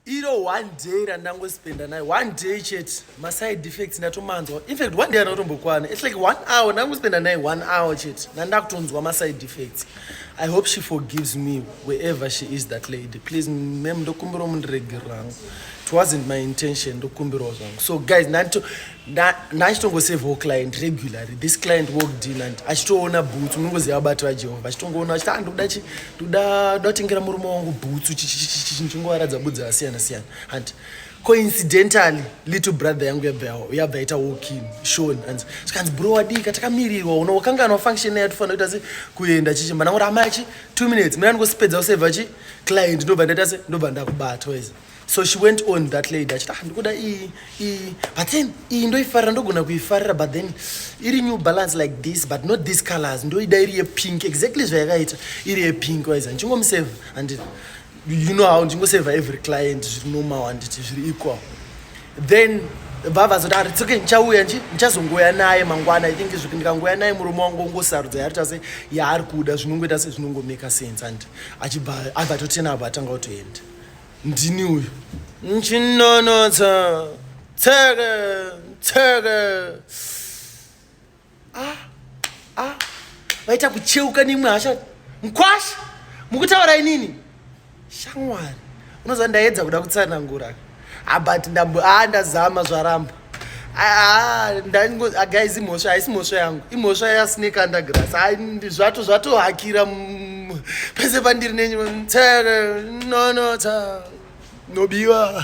iro one day randangospenda nayo one day chete maside effects ndatomanzwa infact one day anotombokwana its like one hour ndangospenda naye one hour chete nandakutonzwa maside effects i hope she forgives me wherever she is that lady please mam ndokumbirawo mundiregerrangu it wasn't my intention ndokumbirawo zvangu so guys nanto na ndachitongosevawo client regularly this client walked in and achitoona bhutsu munongoziva vabati vajehovha achitongoona achiti ah ndoda chi ndoda ndoda kutengera murume wangu bhutsu chichichichi ndichingovaradza budzi akasiyana siyana hanti coincidentally little brother yangu yabva yaita walkin shon hanzi zvikanzi bro wadika takamirirwa uno wakanganwa function eya tofanira kuita se kuenda chichi mhanangu ramai chi two minutes mina ndingosipedza kuseva chi client ndobva ndaita se ndobva ndakubata waiza so she went on that lady achiti ah ndikuda iyi iyi but then iyi ndoifarira ndogona kuifarira but then iri new balance like this but not this colors ndoida iri yepink exactly zvayakaita iri yepink waiza ndichingomuseva handiti you know how ndingoseva every client zviri normal handiti zviri equal then vava zoti ari tsoke ndichauya nji ndichazongoya naye mangwana i think zvekuti ndikangoya naye murume wangu ongosarudza yaarita se yaari kuda zvinongoita se zvinongomeka sense handi achibva abva totena avo atanga kutoenda ndini uyu nchinonotsa tseke tseke ah, ah. vaita kucheuka neimwe hasha mkwashi mukutaura inini shamwari unoziva ndaedza kuda kutsanangura abut ah, ndazama zvaramba Ah, ndango ah, guys imhosva haisi mhosva yangu imhosva yasnake undergrass zvato zvatohakira mm, pese pandiri nenyu mm, nononobiwa